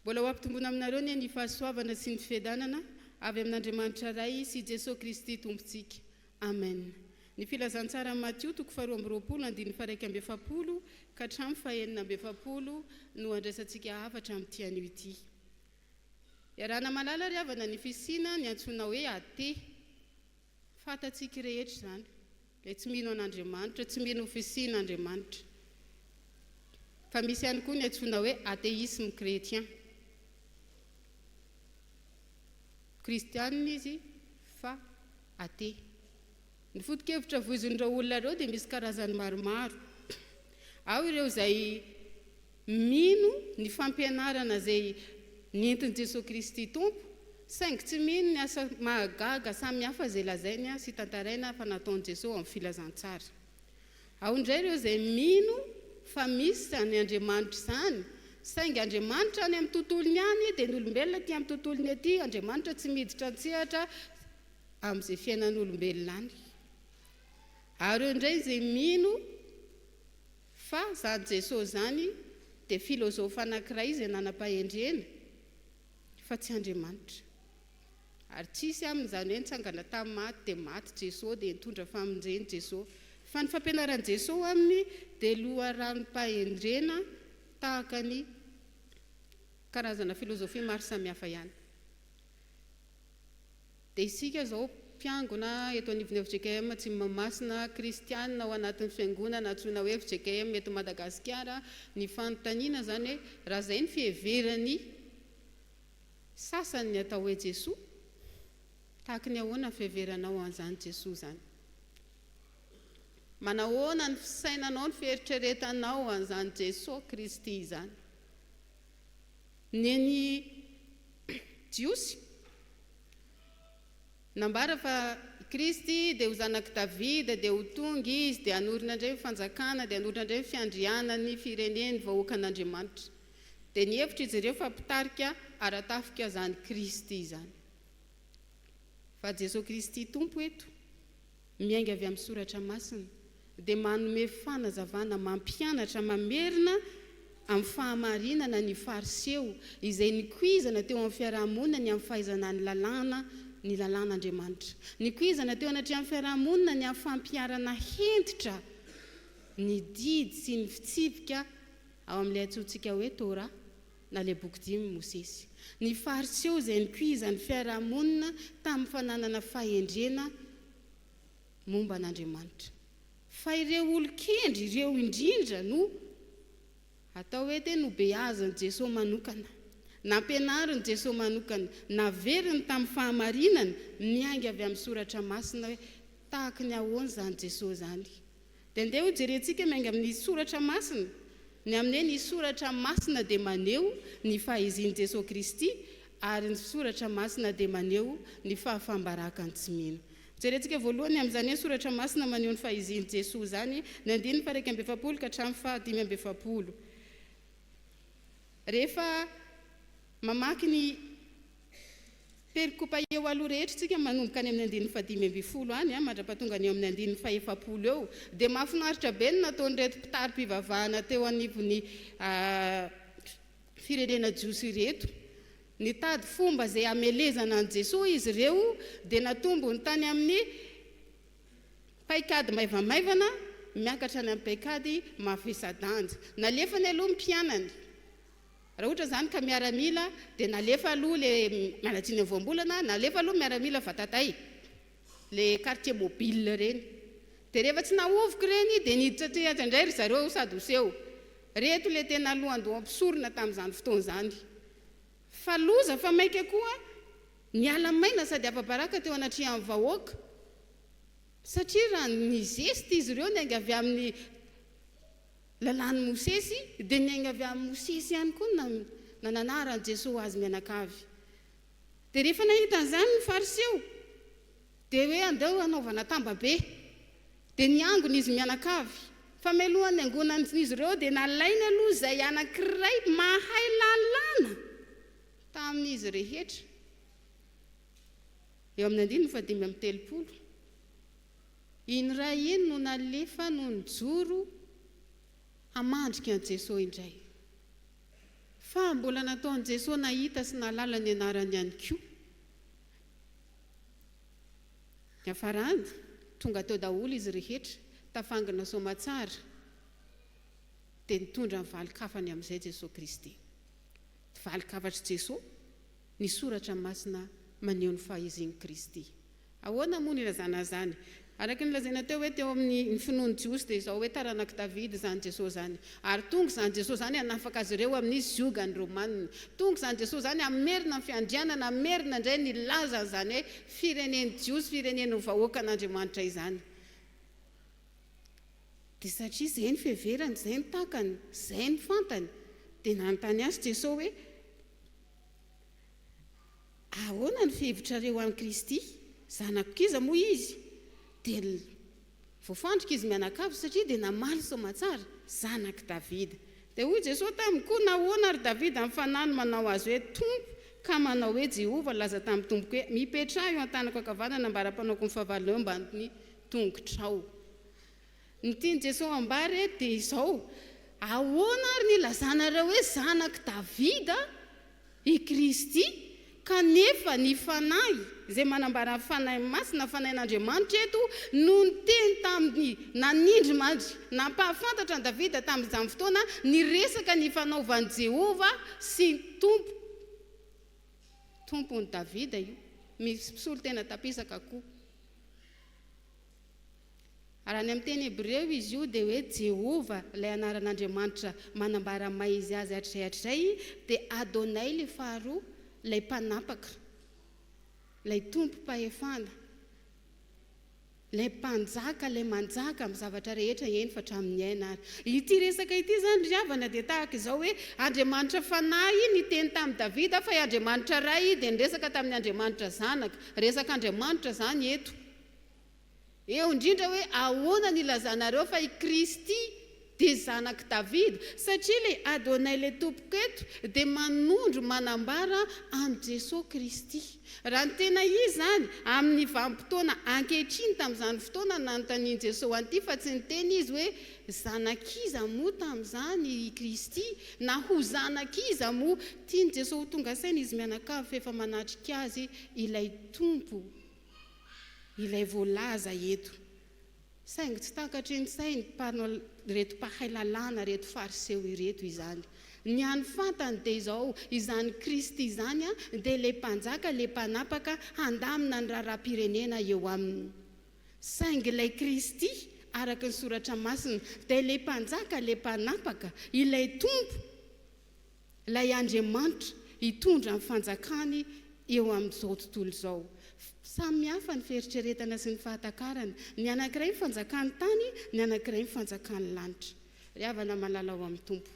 Mbola ho ampitomboina aminareo anie ny fahasoavana sy ny fiadanana avy amin'Andriamanitra Ray sy Jesoa Kristy Tompontsika. Amen. Ny Filazantsaran'i Matio toko faharoa amby roapolo andininy faharaika amby efapolo ka hatramin'ny fahenina amby efapolo no handraisantsika hafatra amin'ity anio ity. Iarahana malala ry havana ny fisiana ny antsoina hoe Athée. Fantatsika rehetra izany, ilay tsy mino an'Andriamanitra, tsy mino ho fisian'Andriamanitra. Fa misy ihany koa ny antsoina hoe atheisme chrétien. Kristianina izy fa athée. Ny foto-kevitra voizin'ireo olona ireo dia misy karazany maromaro. Ao ireo izay Mino ny fampianarana izay nentin'i Jesoa Kristy Tompo, saingy tsy mino ny asa mahagaga samihafa izay lazainy sy tantaraina fa nataon'i Jesoa ao amin'ny Filazantsara. Ao indray ireo izay mino fa misy izany Andriamanitra izany, saingy Andriamanitra any amin'ny tontolony any dia ny olombelona aty amin'ny tontolony aty, Andriamanitra tsy miditra an-tsehatra amin'izay fiainan'olombelona any. Ary eo indray izay mino Fa zany Jesosy zany dia filôzôfa anankiray izay nanam-pahendrena fa tsy Andriamanitra. Ary tsy hisy aminy izany hoe nitsangana tamin'ny maty dia maty Jesosy dia nitondra famonjeny Jesosy. Fa ny fampianaran'i Jesosy aminy dia loharanom-pahendrena tahaka ny karazana filôzôfia maro samihafa ihany. Dia isika izao mpiangona eto anivon'ny fjkm Atsimo Mahamasina, kristianina ao anatin'ny fiangonana antsoina hoe fjkm eto Madagasikara, ny fanontaniana izany hoe raha izay ny fiheveran'ny sasany ny atao hoe Jesoa, tahaky ny ahoana ny fiheveranao an'izany Jesoa izany? Manahoana ny fisainanao, ny fieritreretanao an'izany Jesoa Kristy izany? Neny Jiosy. Nambara fa i Kristy dia ho zanak'i Davida, dia ho tonga Izy, dia hanorina indray ny fanjakana, dia hanorina indray ny fiandrianan'ny fireneny, vahoakan'Andriamanitra. Dia nihevitra izy ireo fa mpitarika ara-tafika izany Kristy izany. Fa Jesoa Kristy Tompo eto. miainga avy amin'ny Soratra Masina, dia manome fanazavana mampianatra mamerina amin'ny fahamarinana ny Fariseo izay nikoizana teo amin'ny fiaraha-monina ny amin'ny fahaizana ny lalàna, ny lalàn'Andriamanitra. Nikoizana teo anatrehan'ny fiaraha-monina ny amin'ny fampiharana hentitra ny didy sy ny fitsipika ao amin'ilay antsointsika hoe Torah. na ilay boky dimy i Mosesy. Ny Fariseo izay nikoiza ny fiaraha-monina tamin'ny fananana fahendrena momba an'Andriamanitra. Fa ireo olon-kendry ireo indrindra no atao hoe dia nobeazin'i Jesoa manokana. Nampianarin'i Jesoa manokana, naveriny tamin'ny fahamarinana miainga avy amin'ny Soratra Masina hoe tahaka ny ahoana izany Jesoa izany. Dia andeha ho jerentsika miainga amin'ny soratra masina, ny amin'e ny soratra masina dia maneho ny fahaizin' Jesoa Kristy ary ny soratra masina dia maneho ny fahafam-barakan tsy mino. Jerentsika voalohany amin'izany hoe soratra masina maneho ny fahaizin Jesoa izany ny andininy faharaika amby efapolo ka hatramin'ny fahadimy amby efapolo rehefa mamaky ny Perikopa eo aloha rehetra tsika manomboka any amin'ny andininy fahadimy ambin'ny folo any mandrapatonga ny eo amin'ny andininy fahefapolo eo dia mahafinaritra be ny nataon'ireto mpitari-pivavahana teo anivon'ny firenena jiosy ireto. Nitady fomba izay hamelezana an'i Jesoa izy ireo dia natombony tany amin'ny paikady maivamaivana miakatra any amin'ny paikady mavesa-danja. Nalefany aloha ny mpianany. Raha ohatra izany ka miaramila dia nalefa aloha le manadino voambolana nalefa aloha miaramila vatatay le quartier mobile ireny dia rehefa tsy nahovoka ireny dia niditra aty aty indray ry zareo sady ho seho reto le tena lohandoha mpisorona tamin'izany fotoana izany fa loza fa maika koa niala maina sady afa-baraka teo anatrehan'ny vahoaka satria raha nizesta izy ireo niainga avy amin'ny Lalàn'i Mosesy, dia niainga avy amin'i Mosesy ihany koa ny nananaharan'i Jesoa ho azy mianakavy. Dia rehefa nahita an'izany ny Fariseo, dia hoe andao hanaovana tambabe. Dia niangona izy mianakavy. Fa mialohan'ny niangonan'izy ireo dia nalainy aloha izay anankiray mahay lalàna tamin'izy rehetra. Eo amin'ny andininy fahadimy amby telopolo. Iny ray iny no nalefa no nijoro hamandrika an'i Jesoa indray. Fa mbola nataon'i Jesoa nahita sy nahalala ny anarany ihany koa. Niafarany, tonga teo daholo izy rehetra, tafangina soamatsara, dia nitondra ny valin-kafany amin'izay Jesoa Kristy. Valin-kafatr'i Jesoa ny soratra masina maneho ny fahezin'i Kristy. Ahoana moa ny ilazana izany? Araka ny lazaina teo hoe teo amin'ny ny finoan'ny Jiosy dia izao hoe taranak'i Davida izany Jesoa izany. Ary tonga izany Jesoa izany hanafaka azy ireo amin'ny ziogan'ny Romanina. Tonga izany Jesoa izany hamerina ny fiandrianana, hamerina indray ny laza an'izany hoe firenen'ny Jiosy, firenen'ny vahoakan'Andriamanitra izany. Dia satria izay ny fiheverany, izay ny takany, izay ny fantany dia nanontany Azy Jesoa hoe. Ahoana ny fihevitrareo an'i Kristy? Zanako kiza moa Izy? Dia voafandrika izy mianakavy satria dia namaly soamatsara, Zanak'i Davida. Dia hoy Jesoa taminy, Koa nahoana ary Davida amin'ny fanahy no manao azy hoe Tompo, ka manao hoe Jehovah, nilaza tamin'ny Tompoko hoe, Mipetraha eo an-tanako ankavanana mba ara-panaoko ny fahavalonao eo ambany tongotrao. Ny tian'i Jesoa hambara eto dia izao, Ahoana ary no ilazanareo hoe zanak'i Davida i Kristy kanefa ny Fanahy, izay manambara ny Fanahy Masina, ny Fanahin'Andriamanitra eto, no niteny tamin'ny, nanindrimandry, nampahafantatra an'i Davida tamin'izany fotoana niresaka ny fanaovan'i Jehovah sy ny Tompo, Tompon'i Davida io, misy mpisolo tena tampisaka koa. Raha any amin'ny teny hebreo izy io dia hoe Jehovah, ilay anaran'Andriamanitra manambara ny maha izy azy hatrizay hatrizay, dia Adonai ilay faharoa, ilay Mpanapaka, ilay Tompom-pahefana, ilay Mpanjaka, ilay manjaka amin'ny zavatra rehetra, eny fa hatramin'ny aina ary. Ity resaka ity izany ry havana dia tahaka izao hoe Andriamanitra Fanahy niteny tamin'i Davida fa i Andriamanitra Ray dia niresaka tamin'ny Andriamanitra Zanaka. Resaka Andriamanitra izany eto. Eo indrindra hoe ahoana ny ilazanareo fa i Kristy dia zanak'i Davida, satria ilay Adonai ilay tompoko eto dia manondro manambara an'i Jesoa Kristy. Raha ny tena izy izany, amin'ny vanim-potoana ankehitriny tamin'izany fotoana no nanontanian'i Jesoa an'ity fa tsy niteny izy hoe zanak'iza moa tamin'izany i Kristy na ho zanak'iza moa. Tian'i Jesoa ho tonga saina izy mianakavy fa efa manatrika azy ilay Tompo. ilay voalaza eto. Saingy tsy takatry ny sain'ny mpanao, ireto mpahay lalàna, ireto Fariseo ireto izany. Ny hany fantany dia izao, izany Kristy izany dia ilay mpanjaka, ilay mpanapaka handamina ny raharaham-pirenena eo aminy. Saingy ilay Kristy, araka ny Soratra Masina, dia ilay mpanjaka, ilay mpanapaka, ilay Tompo. Ilay Andriamanitra hitondra ny fanjakany eo amin'izao tontolo izao. Samy hafa ny fieritreretana sy ny fahatakarana. Ny anankiray ny fanjakan'ny tany, ny anankiray ny fanjakan'ny lanitra. Ry havana malala ao amin'ny Tompo,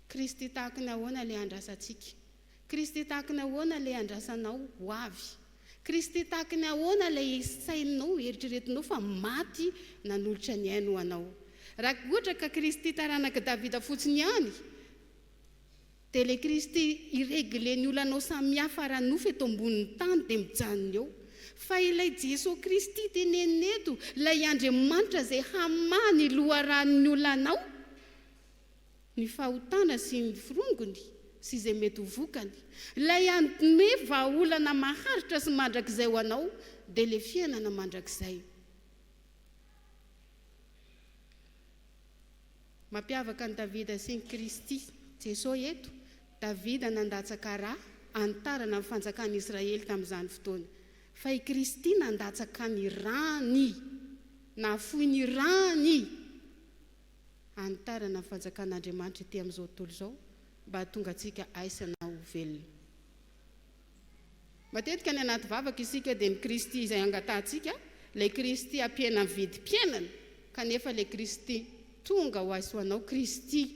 Kristy tahaka ny ahoana ilay andrasantsika? Kristy tahaka ny ahoana ilay andrasanao ho avy? Kristy tahaky ny ahoana ilay saininao, eritreretinao fa maty nanolotra ny ainy ho anao? Raha ohatra ka Kristy taranak'i Davida fotsiny ihany, dia ilay Kristy hi-regler ny olanao samihafa ara-nofo eto ambonin'ny tany dia mijanona eo. Fa ilay Jeso Kristy tenenina eto, ilay Andriamanitra izay hamaha ny loharanon'ny olanao, ny fahotana sy ny firongony sy izay mety ho vokany, ilay hanome vahaolana maharitra sy mandrakizay ho anao dia ilay fiainana mandrakizay. Mampiavaka an'i Davida sy an'i Kristy Jesosy eto, Davida nandatsaka ra hanitarana ny fanjakan'i Israely tamin'izany fotoana, fa i Kristy nandatsaka ny rany, nahafoy ny rany. hanitarana ny fanjakan'Andriamanitra ety amin'izao tontolo izao mba hahatonga antsika aisana ho velona. Matetika any anaty vavaka isika dia ny Kristy izay angatahantsika, ilay Kristy ampiena amin'ny vidim-piainana, kanefa ilay Kristy tonga ho azy ho anao, Kristy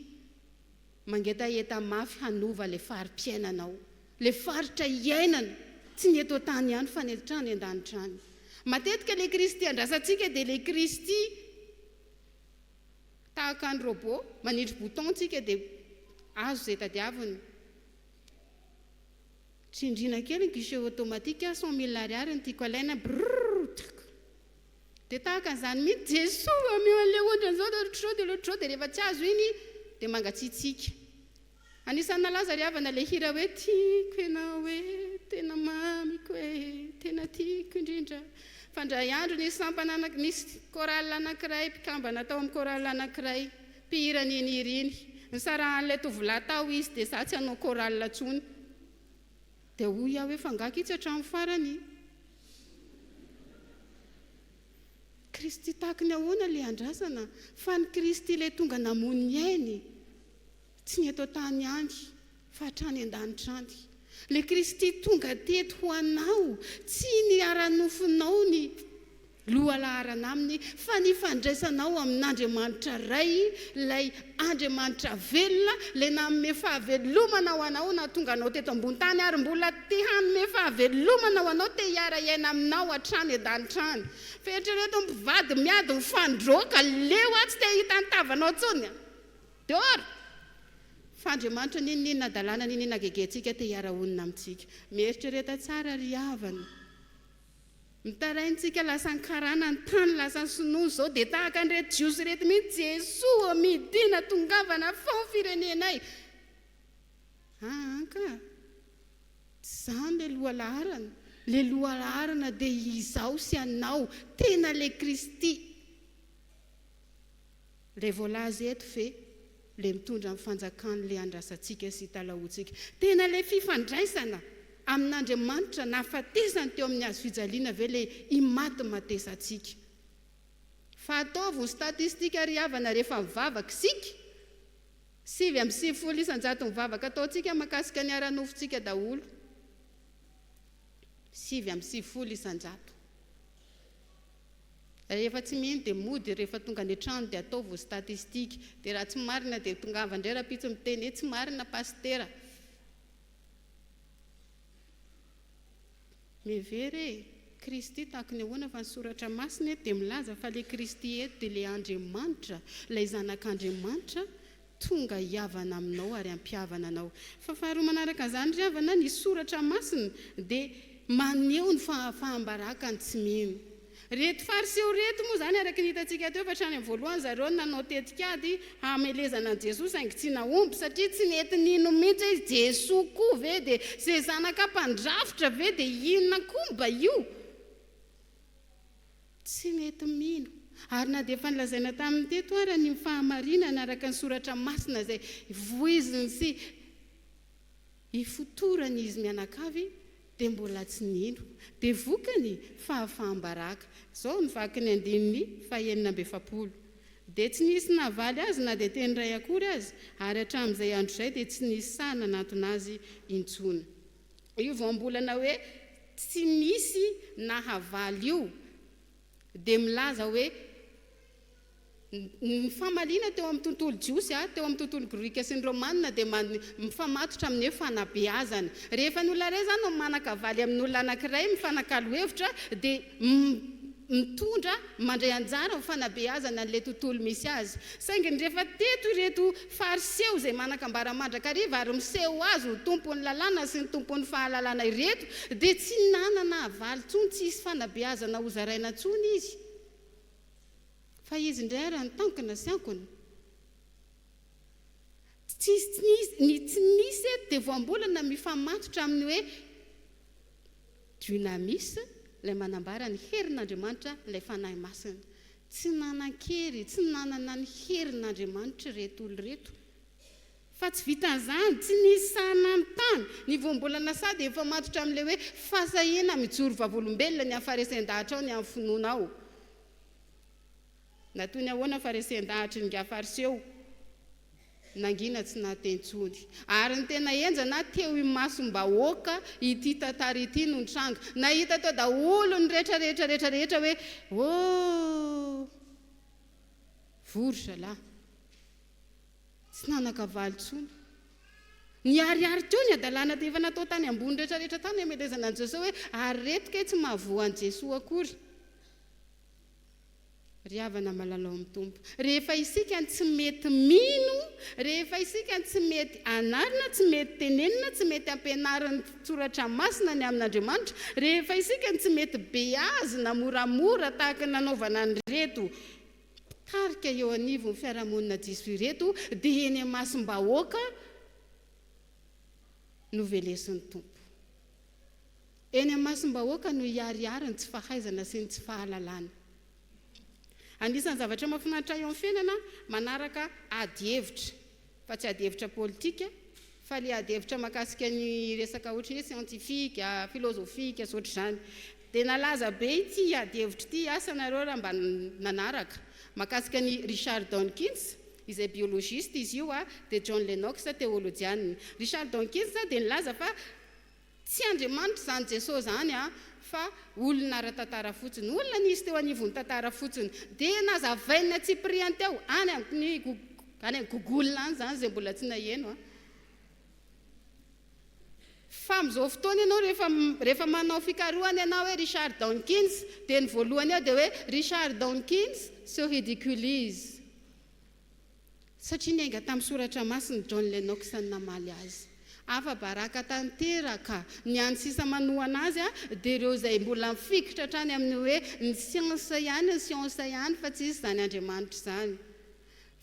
mangetaheta mafy hanova ilay fari-piainanao, ilay faritra iainana, tsy ny eto an-tany ihany fa ny hatrany an-danitra any. Matetika ilay Kristy andrasantsika dia ilay Kristy. Tahaka ny robot, manindry bouton tsika dia azo izay tadiaviny. Tsindriana kely ny guichet automatique ah, cent mille ariary no tiako alaina, brrrr tchk. Dia tahaka an'izany mihitsy, Jesoa, omeo an'ilay ohatran'izao dia ohatr'izao dia ohatr'izao dia rehefa tsy azo iny dia mangatsiatsiaka. Anisan'ny nalaza ry havana ilay hira hoe Tiako ianao e, tena mamiko e, tena tiako indrindra. Fa indray andro nisy sampana anaky, nisy chorale anankiray, mpikambana tao amin'ny chorale anankiray, mpihira an'iny hira iny. Nisarahan'ilay tovolahy tao izy dia za tsy hanao chorale intsony. Dia hoy aho hoe fa angaha kitsy hatramin'ny farany? Kristy tahaky ny ahoana ilay andrasana? Fa ny Kristy ilay tonga namono ny ainy. Tsy ny eto an-tany ihany fa hatrany an-danitra any. Ilay Kristy tonga teto ho anao, tsy ny ara-nofonao ny lohalaharana Aminy fa ny fandraisanao amin'Andriamanitra Ray, ilay Andriamanitra velona, ilay nanome fahavelomana ho anao nahatonga anao teto ambony tany ary mbola te hanome fahavelomana ho anao, te hiara hiaina aminao hatrany an-danitra any. Fa eritrereto mpivady miady mifandroaka, leo aho tsy te hahita ny tavanao intsony. Dôr! Fa Andriamanitra n'inon'inona hadalana n'inon'inona hagegentsika te hiara-honina amintsika. Mieritrereta tsara ry havana. Mitaraintsika lasa ny karana ny tany lasa sinoa izao dia tahaka an'ireto jiosy ireto mihitsy Jesoa ô midina tongavana fao ny firenenay aa ka tsy izany le lohalaharana le lohalaharana dia izaho sy anao tena le kristy Ilay voalaza eto ve ilay mitondra ny fanjakany ilay andrasantsika sy italahoantsika? Tena ilay fifandraisana amin'Andriamanitra nahafatesany teo amin'ny hazo fijaliana ve ilay imatimatesantsika? Fa ataovy ho statistika ry havana rehefa mivavaka isika, sivy amby sivifolo isan-jaton'ny vavaka ataontsika mahakasika ny ara-nofontsika daholo, sivy amby sivifolo isan-jato. Rehefa tsy mino dia mody, rehefa tonga any an-trano dia ataovy ho statistika. Dia raha tsy marina dia tongava indray rahampitso miteny hoe tsy marina pasitera. Mihevera e! Kristy tahaka ny ahoana fa ny soratra masina eto dia milaza fa ilay Kristy eto dia ilay Andriamanitra, ilay Zanak'Andriamanitra, Tonga hihavana aminao ary hampihavana anao. Fa faharoa manaraka an'izany, ry havana, ny Soratra Masina dia maneho ny fahafaham-baraka ny tsy mino. Ireto Fariseo ireto moa izany, araka ny hitantsika teo, fa hatrany amin'ny voalohany zareo no nanao tetikady hamelezana an'i Jesoa saingy tsy nahomby, satria tsy nety nino mihitsy hoe Jesoa koa ve dia izay zanaka mpandrafitra ve dia inona koa mba io? Tsy mety mino. Ary na dia efa nolazaina taminy teto ara ny ho fahamarinana araka ny soratra masina izay voiziny sy ifotorany izy mianakavy dia mbola tsy nino. Dia vokany, fahafaham-baraka. Izao ny vakin'ny andininy fahenina amby efapolo, Dia tsy nisy navaly azy na dia teny iray akory aza, ary hatramin'izay andro izay dia tsy nisy sahy nanantona azy intsony. Io voambolana hoe tsy misy nahavaly io dia milaza hoe ny famaliana teo amin'ny tontolo jiosy, teo amin'ny tontolo grika sy ny romana dia mifamatotra amin'ny hoe fanabeazana. Rehefa ny olona iray izany no manan-kavaly amin'olona anankiray mifanakalo hevitra dia mitondra mandray anjara amin'ny fanabeazana an'ilay tontolo misy azy. Saingy rehefa teto ireto Fariseo izay manan-kambara mandrakariva ary miseho azy ho tompon'ny lalàna sy ny tompon'ny fahalalana ireto dia tsy nanana havaly intsony, tsy hisy fanabeazana hozaraina intsony izy fa izy indray ary antankina sy ankona. Tsy, ny tsy misy eto dia voambolana mifamatotra amin'ny hoe. Dunamis, ilay manambara ny herin'Andriamanitra, ilay Fanahy Masina. Tsy nanan-kery, tsy nanana ny herin'Andriamanitra ireto olona ireto. Fa tsy vitan'izany, tsy nisy sahy nanontany. Ny vao mbola nasahy dia efa matotra amin'ilay hoe fahasahiana mijoro vavolombelona ny an'ny Farisien-dahatra ao, ny an'ny finoana ao. Na toy ny ahoana fa resen-dahatry ny nga Fariseo nangina tsy naha teny intsony. Ary ny tena henjana, teo imasom-bahoaka ity tantara ity no nitranga. Nahita tao daholo ny rehetra rehetra rehetra rehetra hoe ooh! Voa ry zalahy! Tsy nanan-kavaly intsony. Niharihary teo ny hadalana efa natao tany ambony rehetra rehetra tany hametezana an'i Jesoa hoe ary reto kay tsy mahavoa an'i Jesoa akory. Ry havana malalao amin'ny Tompo, rehefa isika no tsy mety mino, rehefa isika no tsy mety anarina, tsy mety tenenina, tsy mety ampianarin'ny Soratra Masina ny amin'Andriamanitra, rehefa isika no tsy mety beazina moramora tahaka ny nanaovana an'ireto mpitarika eo anivon'ny fiarahamonina diso ireto, dia eny imasom-bahoaka no velesin'ny Tompo. Eny amasom-bahoaka no hiharihary ny tsy fahaizana sy ny tsy fahalalana. Anisan'ny zavatra mahafinaritra eo amin'ny fiainana manaraka ady hevitra, fa tsy ady hevitra politika, fa ilay ady hevitra mahakasika ny resaka ohatry ny hoe siantifika, filozofika sy ohatr'izany. Dia nalaza be ity ady hevitra ity, asa nareo raha mba nanaraka, mahakasika an'i Richard Dawkins, izay biologista izy io, dia John Lennox, teolojianina. Richard Dawkins dia nilaza fa. Tsy Andriamanitra izany Jesoa izany a! fa olona ara-tantara fotsiny, olona nisy teo anivon'ny tantara fotsiny. Dia nazavain'ny antsipiriany teo, any amin'ny any amin'ny google any izany izay mbola tsy naheno a! Fa amin'izao fotoana ianao rehefa rehefa manao fikarohana ianao hoe Richard Dawkins dia ny voalohany eo dia hoe Richard Dawkins se ridiculise. Satria niainga tamin'ny Soratra Masina John Lennox namaly azy. Afa-baraka tanteraka! Ny hany sisa manohana azy dia ireo izay mbola mifikitra hatrany amin'ny hoe ny siansa ihany ny siansa ihany fa tsy izy izany Andriamanitra izany.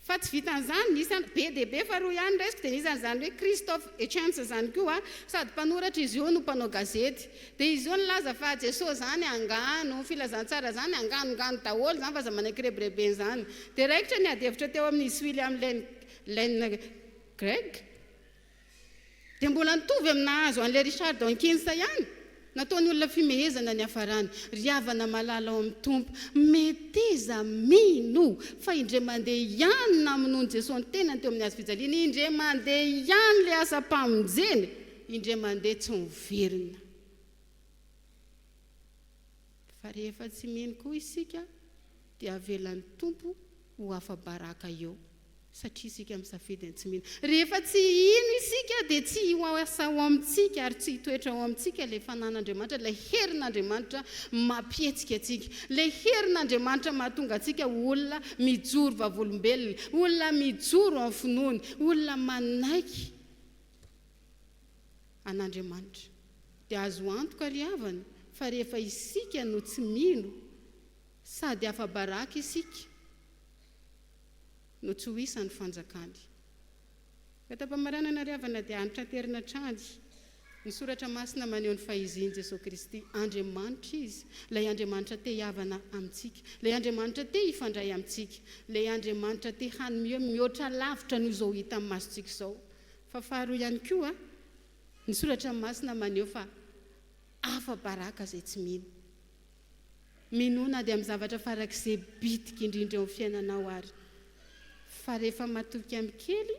Fa tsy vitan'izany, nisy an, be dia be faharoa ihany ny resiko dia nisy an'izany hoe Christoph Hitchens izany koa, sady mpanoratra izy io no mpanao gazety. Dia izao nilaza fa Jesoa zany angano, filazantsara zany angano ngano daholo zany fa aza manaiky rebirebena zany. Dia raikitra ny adihevitra teo amin izy William Lane Lane Craig. Dia mbola nitovy amin nahazo anle Richard Dawkins ihany. Nataony olona fimehezana ny hafarany. Ry havana malala ao amin Tompo, meteza mino fa indre mande ihany namonoany Jesoa ny tenany teo amin ny hazo fijaliana, indre mande ihany le asa mpamonjena. Indray mandeha tsy miverina. Fa rehefa tsy mino koa isika dia avelan'ny Tompo ho afa-baraka eo satria isika misafidy ny tsy mino. Rehefa tsy hino isika dia tsy ho asa ao amintsika ary tsy hitoetra ao amintsika ilay fanan'Andriamanitra, ilay herin'Andriamanitra mampihetsika antsika, ilay herin'Andriamanitra mahatonga antsika ho olona mijoro vavolombelona, olona mijoro amin'ny finoany, olona manaiky an'Andriamanitra. Dia azo antoka ry havana fa rehefa isika no tsy mino sady afa-baraka isika no tsy ho isan'ny fanjakany. Fahatampamaranana ry havana dia antraterina hatrany ny soratra masina maneho ny fahizian'i Jesoa Kristy. Andriamanitra Izy, ilay Andriamanitra te hihavana amintsika, ilay Andriamanitra te hifandray amintsika, ilay Andriamanitra te hanome mihoatra lavitra noho izao hita amin'ny masontsika izao. Fa faharoa ihany koa, ny Soratra Masina maneho fa afa-baraka izay tsy mino. Minoa na dia amin'ny zavatra farak'izay bitika indrindra eo amin'ny fiainanao ary, fa rehefa matoky amin'ny kely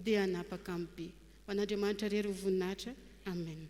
dia hanapaka amin'ny be. Ho an'Andriamanitra irery ho voninahitra. Amen.